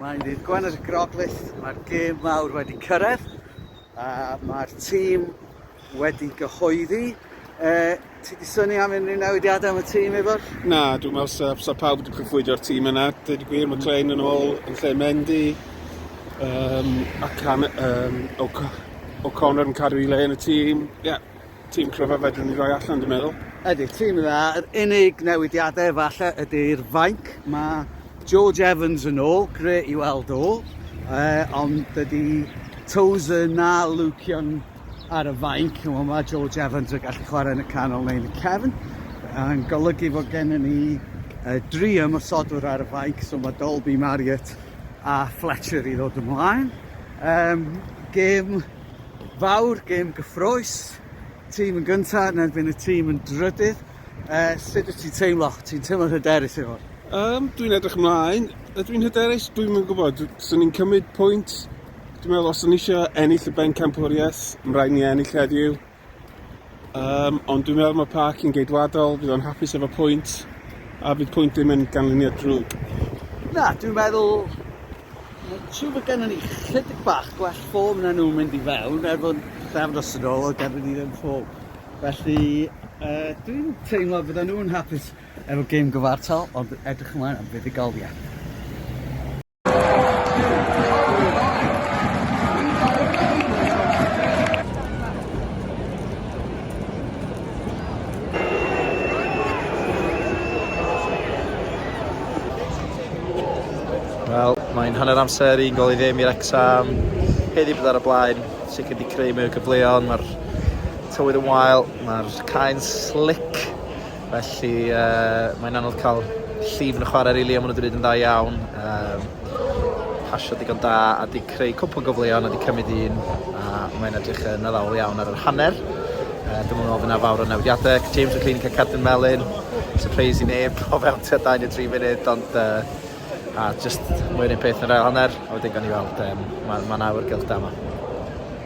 Mae'n ddydd Gwen ar y Groglith, mae'r gêm mawr wedi cyrraedd a mae'r tîm wedi gyhoeddi. E, ti wedi syni am unrhyw newidiadau am y tîm, Ifor? Na, dwi'n meddwl sa, sa pawb wedi cychwydio'r tîm yna. Dwi'n gwir, mae Klein yn ôl yn lle Mendy. Um, ac um, O'Connor yn cadw i le yn y tîm. Yeah. Tîm cryfa fedrwn ni roi allan dwi'n meddwl. Ydy, tîm dda. Yr unig newidiadau falle ydy'r fainc. Mae George Evans yn ôl, gre i weld o. E, ond dydy Tozer na Lucian ar y fainc. Mae George Evans yn gallu chwarae yn y canol neu yn y cefn. Yn golygu fod gennym ni uh, dri ymwysodwr ar y fainc, so mae Dolby, Marriott a Fletcher i ddod ymlaen. Um, gêm fawr, gêm gyffrous, tîm yn gyntaf yn erbyn y tîm yn drydydd. Uh, sut wyt ti'n teimlo? Ti'n teimlo'n hyderus i hwn? Um, dwi'n edrych ymlaen. Ydw i'n hyderus? Dwi'n mynd gwybod. Swn i'n cymryd pwynt. Dwi'n meddwl os o'n eisiau ennill y ben campwriaeth, mae'n rhaid ni ennill heddiw. Um, ond dwi'n meddwl mae parc yn geidwadol, fydd o'n hapus efo pwynt, a bydd pwynt ddim yn ganlyniad drwg. Na, dwi'n meddwl Mae'n siŵr bod gennym ni chydig bach gwell ffôn na nhw'n mynd i fewn, er bod ffefnos yn ôl o gennym ni ddim ffôn. Felly, uh, dwi'n teimlo bod nhw'n hapus efo gêm gyfartal, ond edrych ymlaen am fuddugoliaeth. Wel, mae'n hanner amser i'n gol i ddim i'r exam. Heddi bydd ar y blaen, sicr wedi creu mwy o gyfleon, mae'r tywydd yn wael, mae'r caen slick Felly mae'n anodd cael llif yn y chwarae rili a maen nhw wedi gwneud yn dda iawn. Yym pasio digon da a wedi creu cwpl o gyfleoedd a wedi cymryd un a mae'n edrych yn addawol iawn ar yr hanner. Yy dwi'm yn meddwl fydd 'na fawr o newidiadau. James McClean yn cael cardyn melyn. Sypreis i neb o fewn tua dau neu dri munud ond yy a jyst mwy o'r un peth yn yr ail hanner a wedyn gawn ni weld yym ma' ma' 'na awyrgylch da 'ma.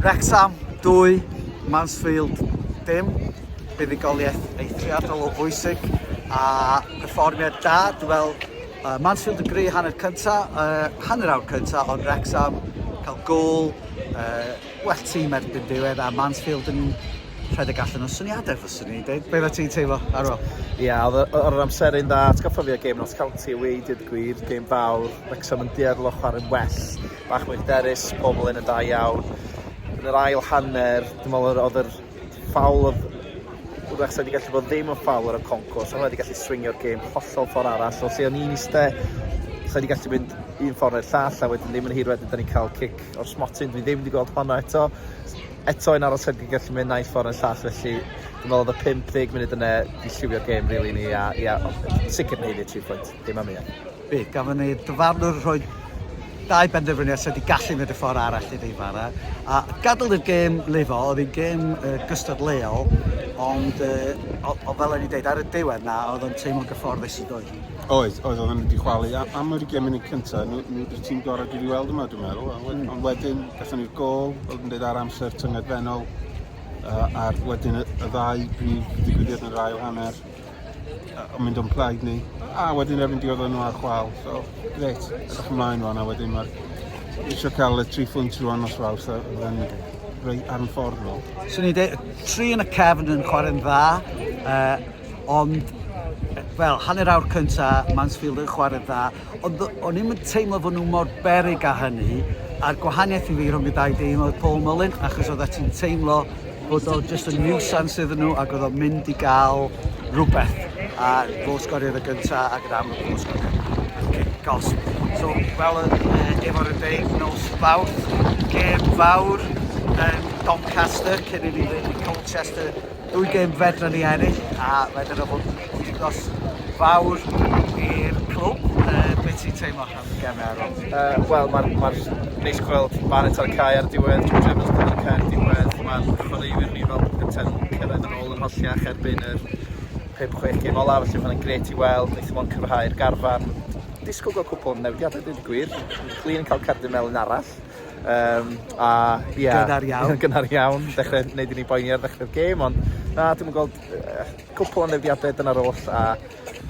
Wrecsam 2, Mansfield dim. Buddugoliaeth eithriadol o bwysig a perfformiad da. Dwi'n weld uh, Mansfield yn greu hanner cynta, uh, hanner awr cynta, ond Wrecsam cael gol, uh, Well tîm erbyn diwedd a Mansfield yn rhedeg allan o syniadau fyswn i'n dweud. Be oeddet ti'n teimlo ar ôl? Ie, oedd e- oedd yr amseru'n dda. Atgoffa fi o gêm Notts County away, deud y gwir, gêm fawr. Wrecsam yn dueddol o chwarae'n well, bach mwy hyderus, pobl yn yn da iawn. Yn yr ail hanner, dwi'n meddwl yr- oedd yr ffawl oedd Wrecsam wedi gallu bod ddim yn ffawl ar y conco, so hwnna wedi gallu swingio'r gêm hollol ffordd arall. So lle o'n i'n iste, so wedi gallu mynd un ffordd neu'r llall, a wedyn ddim yn hir wedyn, da ni'n cael cic o'r smotyn, dwi ddim wedi gweld honno eto. Eto yn aros heb gigell mynd naill ffordd yn llall, felly dwi'n meddwl oedd y 50 munud yna i lliwio'r gêm rili ni, a ia, sicr neud i'r 3 pwynt, dim am un. Be, gafon ni dyfarnwr rhoi dau benderfyniad sydd wedi gallu mynd y ffordd arall i Ddeifara, a gadael i'r gêm lifo, oedd hi'n gêm uh, gystadleuol, ond uh, o, o, fel o'n i'n deud ar y diwedd na, oedd o'n teimlo'n gyfforddus i ddweud. Oedd, oedd, oedd nhw wedi chwalu a- am yr 20 munud cyntaf, nhw, nhw wedi'r tîm gorau dwi wedi weld yma, dwi'n meddwl. A wed- Ond wedyn, gatho ni'r gol, fel dwi'n dweud, ar amser tyngedfennol, uh, a'r wedyn y, y ddau brif ddigwyddiad yn yr ail hanner, uh, yn mynd o'n plaid ni, a wedyn erbyn diodd nhw ar chwal. So, gret, edrych ymlaen rwan, a wedyn mae'r eisiau cael y tri phwynt rwan os fawr, so fydden ni rei ar y ffordd nhw. So ni de, tri yn y cefn yn chwarae'n dda, uh, Ond, wel, hanner awr cynta, Mansfield yn chwarae dda, ond o'n i'n yn teimlo fod nhw mor berig â hynny, a'r gwahaniaeth i fi rhwng y dau dîm oedd Paul Mullin, achos oedd ti'n teimlo bod o just a nuisance iddyn nhw ac oedd o'n mynd i gael rhywbeth a fo sgoriodd y gynta ac yn amlwg fo sgoriodd cic gos. So, fel yn uh, efo'r yfeif nos fawrth, gêm fawr yn Doncaster cyn i ni fynd i Colchester Dwy gêm fedran ni ennill a fedran nhw fod yn wythnos fawr i'r clwb. Uh, be ti'n teimlo am y gemau ar ôl? Uh, Wel, mae'n ma neis gweld Barrett ar y cae ar diwedd, George Evans ar y cae ar diwedd. Mae'r chwaraewyr ni fel gynted cyrraedd yn ôl yn holliach erbyn yr 5-6 gêm olaf, felly mae'n gret i weld, wnaethon nhw'n cryfhau'r garfan. Disgwyl gweld cwpl yn newidiadau, dwi'n gwir. Clean yn cael cardyn melyn arall. Um, a, yeah, gynnar iawn. gynnar iawn, dechrau wneud i ni boeni ar ddechrau'r gêm, ond na, dwi'n gweld uh, cwpl o newidiadau dyna'r oll, a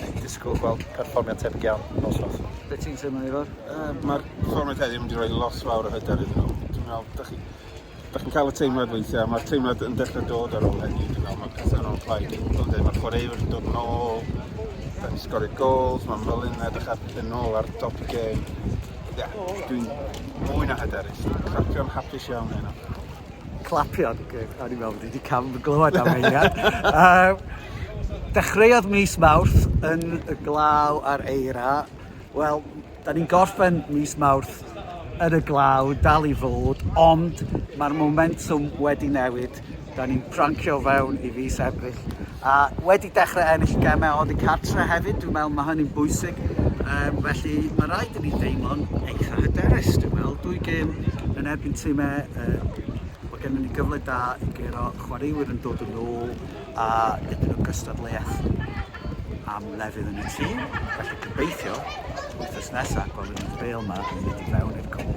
dwi'n disgwyl gweld perfformiad tebyg iawn nos nos. Be ti'n teimlo, Ifor? Uh, Mae'r perfformiad heddiw yn mynd i roi lot fawr o hyder iddyn nhw. Dwi'n meddwl, da chi, da chi'n cael y teimlad weithiau, mae'r teimlad yn dechrau dod ar ôl heddiw, dwi'n meddwl, mae'r pethau yn ôl plaid. Mae'r chwaraewr yn dod yn ôl, da ni'n sgorio gols, mae Mullin edrych ar yn ôl ar dop y gêm. Ie, dwi'n fwy na hyderus. Clapio'n hapus iawn heno. Clapio? Okay. O'n i'n meddwl bod wedi cam glywed am eiliad. uh, dechreuodd mis Mawrth yn y glaw ar eira. Wel, da ni'n gorffen mis Mawrth yn y glaw, dal i fod, ond mae'r momentum wedi newid Dan ni'n prancio fewn i fis Ebrill a wedi dechrau ennill gemau oddi cartre hefyd, dwi'n meddwl mae hynny'n bwysig. Um, felly mae rhaid i ni deimlo'n eitha hyderus, dwi'n meddwl. Dwy gêm yn erbyn tîmau, uh, mae gennym ni gyfle da i gero chwaraewyr yn dod yn ôl a dipyn o gystadleuaeth. am lefydd yn y tŷ, felly gobeithio wythnos nesa gwelwn ni'r bêl yma yn mynd i fewn i'r cwm.